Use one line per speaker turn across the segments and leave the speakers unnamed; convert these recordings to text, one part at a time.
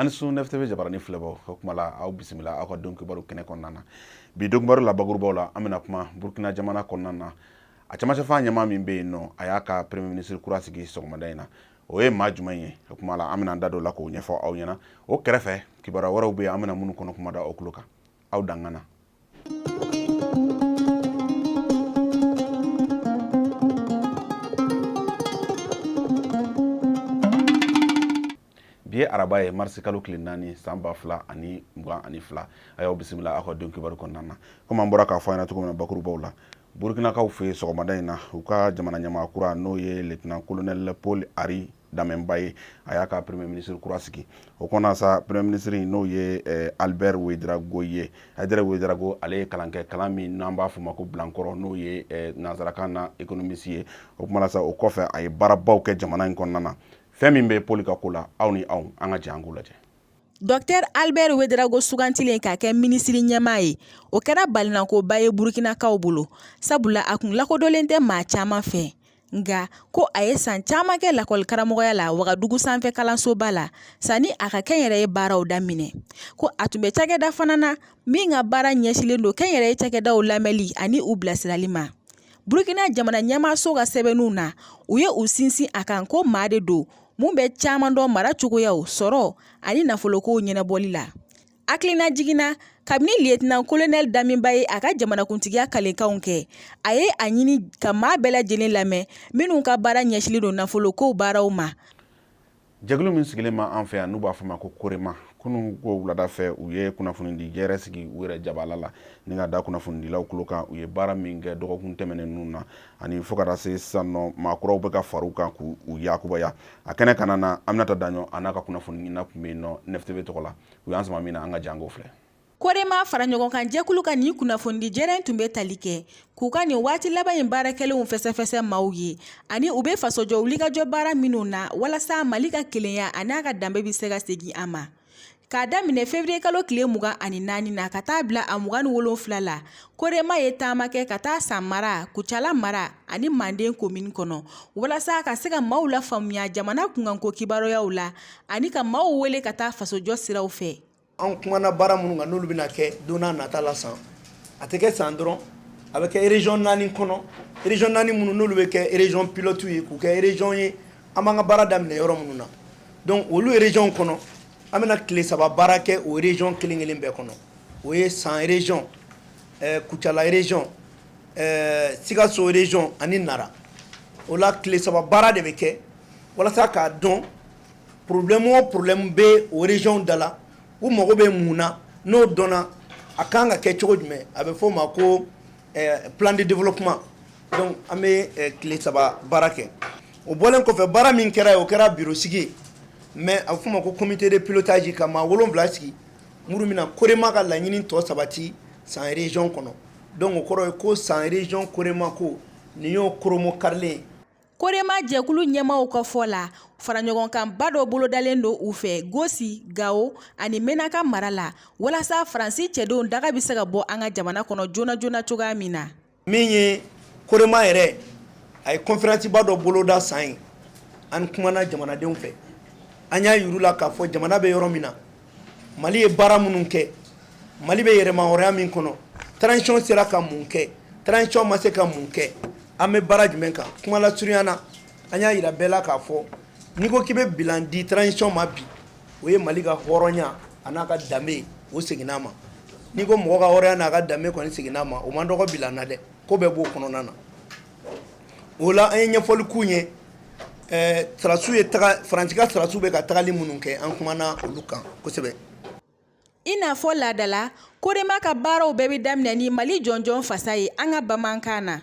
a ni su NFTV jabarani filɛbaw o kuma la aw bisimila aw ka don kibaru kɛnɛ kɔnɔna na bi don kibaru la bakurubaw la an bɛna kuma burkina jamana kɔnɔna na a camancɛfan ɲɛmaa min bɛ yen nɔ a y'a ka premier ministre kura sigi sɔgɔmada in na o ye maa jumɛn ye o kuma la an bɛna an da don o la k'o ɲɛfɔ aw ɲɛna o kɛrɛfɛ kibaruya wɛrɛw bɛ yen an bɛna minnu kɔnɔ kuma da aw tulo kan aw dangana bi ye araba ye marisi kalo tile naani san ba fila ani mugan ani fila a y'aw bisimila aw ka don kibaru kɔnɔna na komi an bɔra k'a fɔ aw ɲɛna cogo min na bakurubaw la burukinakaw fɛ sɔgɔmada in na u ka jamana ɲɛmaa kura n'o ye lieutenant colonel paul henri damiba ye a y'a ka premier ministre kura sigi o kɔnɔna sa premier ministre in n'o ye eh, albert ouédraogo ye albert ouédraogo ale ye kalan kɛ kalan min n'an b'a fɔ ma ko bilankɔrɔ n'o ye eh, nansarakan na économiste ye o kuma la sa o kɔfɛ a ye baarabaw kɛ jamana in kɔnɔna na fɛn min bɛ paul ka ko la aw ni anw an ka jɛ an k'o lajɛ
Dɔkitɛri Alibɛri Wederawogo sugantilen ka kɛ minisiri ɲɛmaa ye, o kɛra balinakoba ye Burukinakaw bolo, sabula a kun lakodɔnlen tɛ maa caman fɛ, nka ko a ye san caman kɛ lakɔlikaramɔgɔya la Wagadugu sanfɛ kalansoba la sani a ka kɛnyɛrɛye baaraw daminɛ, ko a tun bɛ cakɛda fana na min ka baara ɲɛsinlen don kɛnyɛrɛye cakɛdaw lamɛnli ani u bilasirali ma. Burukina jamana ɲɛmaaso ka sɛbɛnniw na, u ye u sinsin a kan ko maa de don mun bɛ caman dɔn mara cogoyaw sɔrɔ ani nafolokow ɲɛnabɔli la hakilinajigin na kabini liyetana kolonɛli damiba ye a ka jamanakuntigiya kalenkanw kɛ a ye a ɲini ka maa bɛɛ lajɛlen lamɛn minnu ka baara ɲɛsinlen don nafolokow baaraw ma
jɛkulu min sigilen b'an fɛ yan n'u b'a fɔ ma ko korema kunun ko wulada fɛ u ye kunnafonidi jɛrɛ sigi u yɛrɛ jabala la ni k'a da kunnafonidilaw tulo kan u ye baara min kɛ dɔgɔkun tɛmɛnen ninnu na ani fo ka taa se sisan nɔ maa kuraw bɛ ka far'u kan k'u yakubaya a kɛnɛ kɔnɔna na aminata daɲɔ a n'a ka kunnafoniɲina tun bɛ yen nɔ NFTV tɔgɔ la u y'an sama min na an ka jɛ an k'o filɛ korema fara
ɲɔgɔn kan jɛkulu ka nin kunnafonidi jɛrɛ tun bɛ tali kɛ k'u ka nin waati laban in baara kɛlenw fɛsɛfɛsɛ maaw ye ani u bɛ fasojɔ wulikajɔ baara minnu na walasa mali ka kelenya an'a ka danbe bɛ se ka segin a ma K'a daminɛ février kalo tile mugan ani naani na ka taa bila a mugan ni wolonwula la korema ye taama kɛ ka taa san mara kucala mara ani manden komini kɔnɔ walasa ka se ka maaw lafaamuya jamana kunkanko kibaruyaw la ani ka maaw wele ka taa fasojɔ siraw fɛ an kumana
baara minnu kan n'olu bɛna kɛ don nata la san a tɛ kɛ san dɔrɔn a bɛ kɛ région naani kɔnɔ région naani minnu n'olu bɛ kɛ région pilote ye k'u kɛ région ye an b'an ka baara daminɛ yɔrɔ minnu na donc olu région kɔnɔ an bɛna tile saba baara kɛ o région kelen kelen bɛɛ kɔnɔ o ye San région ɛɛ Kucala région ɛɛ Sikaso région ani Nara o la tile saba baara de bɛ kɛ walasa k'a dɔn problème o problème bɛ o région da la u mago bɛ mun na n'o dɔnna a kan ka kɛ cogo jumɛn a bɛ f'o ma ko plan de développement donc an bɛ tile saba baara kɛ. o bɔlen kɔfɛ baara min kɛra ye o kɛra biro sigi ye mais a bɛ f'o ma ko comité de pilotage ka maa wolonwula sigi minnu bɛna korema ka laɲini tɔ sabati san région kɔnɔ donc o kɔrɔ ye ko san région korema ko nin y'o koromo karilen ye
korema jɛkulu ɲɛmaaw ka fɔ la faraɲɔgɔnkanba dɔ bolodalen don u fɛ gosi gawo ani menaka mara la walasa faransi cɛdenw daga bɛ se ka bɔ an ka jamana kɔnɔ joona joona cogoya min na min
ye korema yɛrɛ a ye conférence ba dɔ boloda san yen an kumana jamanadenw fɛ an y'a yir'u la k'a fɔ jamana bɛ yɔrɔ min na mali ye baara minnu kɛ mali bɛ yɛrɛmahɔrɔnya min kɔnɔ transition sera ka mun kɛ transition ma se ka mun kɛ an bɛ baara jumɛn kan kuma lasurunya na an y'a yira bɛɛ la k'a fɔ n'i ko k'i bɛ bilan di transition ma bi o ye mali ka hɔrɔnya a n'a ka danbe o seginn'a ma n'i ko mɔgɔ ka hɔrɔnya n'a ka danbe kɔni seginn'a ma o man dɔgɔ bilan na dɛ ko bɛɛ b'o kɔnɔna na o la an ye ɲɛfɔli k'u ye sɔrɔdasiw ye faransi ka sɔrɔdasiw bɛ ka tagali minnu kɛ an kumana olu kan kosɛbɛ i
n'a fɔ laadala korema ka baaraw bɛɛ bɛ daminɛ ni mali jɔnjɔn fasa ye an ka bamanankan na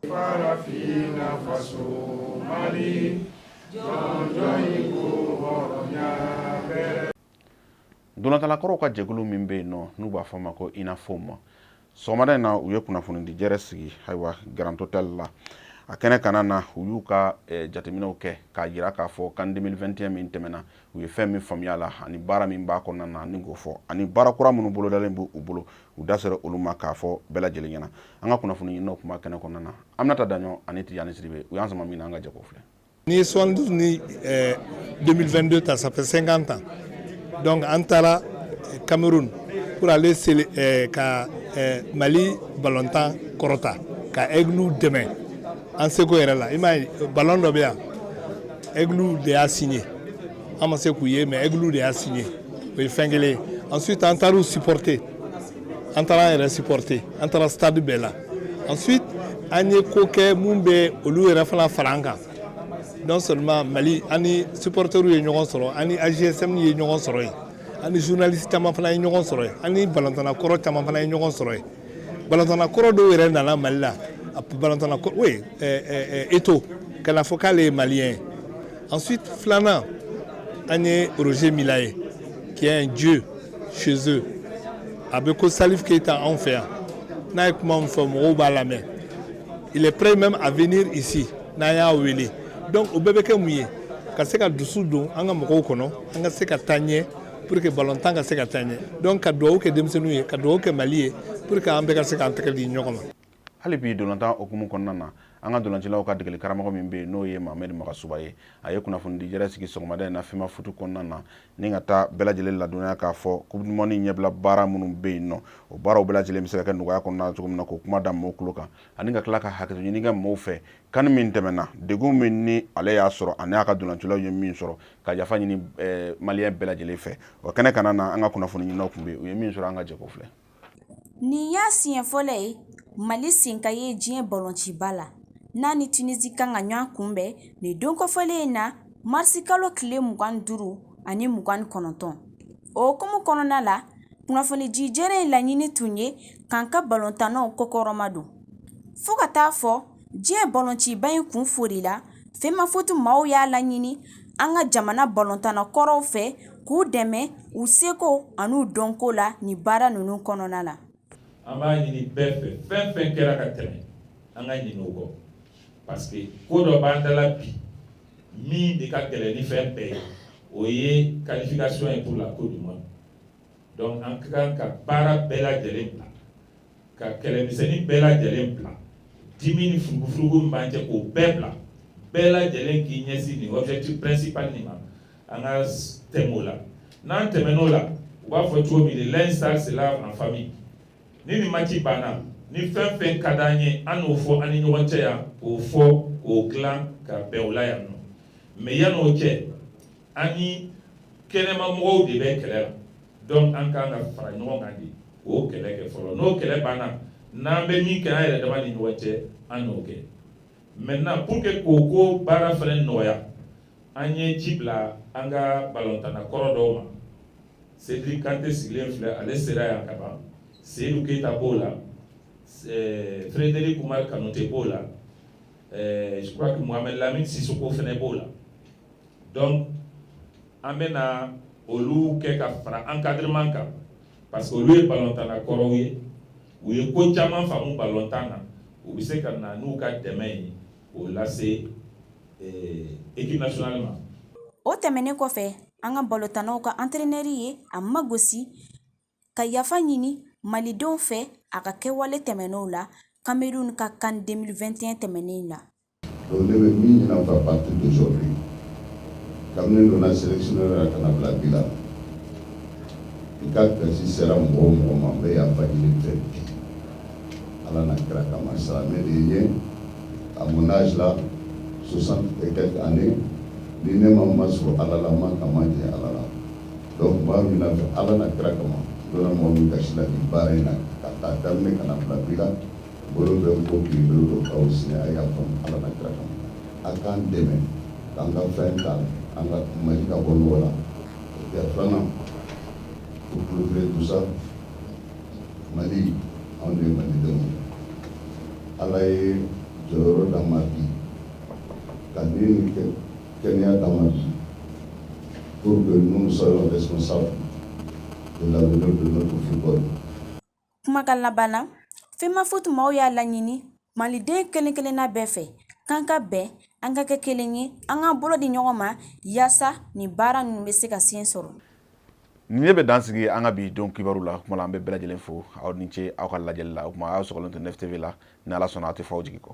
Farafina
faso Mali jɔnjɔn in ko hɔrɔnya
bɛrɛ. Ntolatannakɔrɔw ka jɛkulu min bɛ yen nɔ n'u b'a fɔ a ma ko UNAFOM sɔgɔmada in na u ye kunnafonidi jɛrɛ sigi ayiwa Grand Hotel la a kɛnɛ kanna na u y'u ka eh, jateminɛw kɛ k'a jira k'a fɔ CAN 2021 min tɛmɛna u ye fɛn min faamuya la ani baara min b'a kɔnɔna na ni k'o fɔ ani baara kura minnu bolodalen b' u bolo u da sera olu ma k'a fɔ bɛɛ lajɛlen ɲɛna an ka kunnafoni ɲininaw tun b'a kɛnɛ kɔnɔna na Aminata Daɲɔ ani Tijani Sidibe u y'an sama min na an ka jɛ k'o filɛ ni
72
ni 2022
eh, ta ça fait 50 ans donc an taara eh, Cameroun pour aller sele, eh, ka eh, Mali balontan kɔrɔta ka Aigles dɛmɛ an seko yɛrɛ la i m'a ye ballon dɔ bɛ yan Aigles de y'a signé an ma se k'u ye mais Aigles de y'a signé o ye fɛn kelen ye ensuite an taar'u supporter an taara an yɛrɛ supporter an taara stade bɛɛ la ensuite an ye ko kɛ mun bɛ olu yɛrɛ fana fara an kan non seulement mali an ni supporteriw ye ɲɔgɔn sɔrɔ an ni AJSM ye ɲɔgɔn sɔrɔ yen an ni journaliste caman fana ye ɲɔgɔn sɔrɔ yen an ni balontanna kɔrɔ caman fana ye ɲɔgɔn sɔrɔ yen balontanna kɔrɔ dɔw yɛrɛ nana mali la balontanna oui eto'o ka na fɔ k'ale ye maliyɛn ye ensuite filanan an ye roger milla ye qui est un dieu chez eux a bɛ ko salif keyita anw fɛ yan n'a ye kuma min fɔ mɔgɔw b'a lamɛn il est prêt même à venir ici n'an y'a wele donc o bɛɛ bɛ kɛ mun ye ka se ka dusu don an ka mɔgɔw kɔnɔ an ka se ka taa ɲɛ pour que ballon tan ka se ka taa ɲɛ donc ka dugawu kɛ denmisɛnninw ye ka dugawu kɛ mali ye pour que an bɛɛ ka se k'an tɛgɛ di ɲɔgɔn ma hali bi ntolatan
hukumu kɔnɔna na an ka ntolacilaw ka degeli karamɔgɔ min bɛ yen n'o ye mahamɛdi magasuba ye a ye kunnafonidi jɛrɛ sigi sɔgɔmada in na femafutu kɔnɔna na ni ka taa bɛɛ lajɛlen ladɔnya k'a fɔ coupe du monde ɲɛbila baara minnu bɛ yen nɔ o baaraw bɛɛ lajɛlen bɛ se ka kɛ nɔgɔya kɔnɔna cogo min na k'o kuma da mɔgɔw tulo kan ani ka tila ka hakɛto ɲini kɛ mɔgɔw fɛ kani min tɛmɛna degun min ni ale y'a sɔrɔ ani a ka ntolacilaw ye min sɔrɔ ka yafa ɲini eh, maliyɛn bɛɛ lajɛlen fɛ o kɛnɛ kanna na an ka kunnafoni ɲininaw tun bɛ yen u ye min sɔrɔ an ka jɛ k'o filɛ nin y'a
siɲɛ fɔlɔ ye mali sen ka ye diɲɛ balɔnciba la n'a ni tunisi kan ka ɲɔgɔn kunbɛn nin don kofɔlen in na marisi kalo tile mugan ni duuru ani mugan ni kɔnɔntɔn o hukumu kɔnɔna la kunnafonidi jɛrɛ in laɲini tun ye k'an ka balontannaw kɔkɔrɔmadon fo ka taa fo diɲɛ balɔnciba in kun foli la femafutu maaw y'a laɲini an ka jamana balontanna kɔrɔw fɛ k'u dɛmɛ u seko an'u dɔnko la nin baara ninnu kɔnɔna la an b'a ɲini
bɛɛ fɛ fɛn fɛn kɛra ka tɛmɛ an ka ɲinɛ o kɔ parce que ko dɔ b'an da la bi min de ka gɛlɛn ni fɛn bɛɛ ye o ye qualification ye pour la coupe du monde donc an ka kan ka baara bɛɛ lajɛlen bila ka kɛlɛmisɛnnin bɛɛ lajɛlen bila dimi ni furugufurugu min b'an cɛ k'o bɛɛ bila bɛɛ lajɛlen k'i ɲɛsin nin objectif principal nin ma an ka tɛmɛ o la n'an tɛmɛn'o la u b'a fɔ cogo min le linge sale se lave en famille ni nin match banna ni fɛn fɛn ka d'an ye an n'o fɔ an ni ɲɔgɔn cɛ yan k'o fɔ k'o dilan ka bɛn o la yan nɔ mais yan'o cɛ an ni kɛnɛma mɔgɔw de bɛ kɛlɛ la donc an kan ka fara ɲɔgɔn kan de k'o kɛlɛ kɛ fɔlɔ n'o kɛlɛ banna n'an bɛ min kɛ an yɛrɛ dama ni ɲɔgɔn cɛ an n'o kɛ maintenant pour que k'o ko baara fana nɔgɔya an ye ci bila an ka balontanna kɔrɔ dɔw ma Cedric Kante sigilen filɛ ale sera yan ka ban Seyidu Keyita b'o la eh, Frederic Umar Kanute b'o la eh, je crois que Mohamed Lamine Sissoko fana b'o la donc an bɛ na olu kɛ ka fara encadrement kan parce que olu ye balontanna kɔrɔw ye u ye ko caman faamu balontan na u bɛ se ka na n'u ka dɛmɛ ye k'o lase équipe nationale ma. o
tɛmɛnen kɔfɛ an ka balontannaw ka entraîneur ye a magosi ka yafa ɲini malidenw fɛ a ka kɛwale tɛmɛnenw la cameroun ka CAN 2021 tɛmɛnen na. Donc ne
bɛ min ɲini aw fɛ à partir d'aujourd'hui kabini n donna sélection yɔrɔ la ka na bila bi la n ka gasi sera mɔgɔ o mɔgɔ ma n bɛ yafa ɲini i fɛ bi Ala n'a kira kama silamɛ de ye n à mon âge là 60 et quelques années ni ne ma masɔrɔ Ala la n ma kama jɛ Ala la donc n b'a ɲini aw fɛ Ala n'a kira kama n donna mɔgɔ min gasi la nin baara in na k'a ta daminɛ ka na bila bi la Bolo bɛ n kɔ k'i bolo don k'aw sigi a yafa n ma Ala n'a kira kama a k'an dɛmɛ k'an ka fɛn ta an ka Mali ka bɔ nɔgɔ la et filanan pour clôturer tout ça Mali anw de ye Malidenw ye Ala ye jɔyɔrɔ d'an ma bi ka ni ni kɛnɛya d'an ma bi pour que nous soyons responsables de l'avenir de notre football
Kumakan laban na FEMAFOOT maaw y'a laɲini maliden kelen-kelenna bɛɛ fɛ k'an ka bɛn an ka kɛ kelen ye an ka bolo di ɲɔgɔn ma yaasa nin baara ninnu bɛ se ka sen sɔrɔ nin ne
bɛ dan sigi an ka bi don kibaru la kuma la an bɛ bɛɛ lajɛlen fo aw ni ce aw ka lajɛli la o kuma aw sɔgɔlen to 9TV la ni ala sɔnna a tɛ fɔ aw jigi kɔ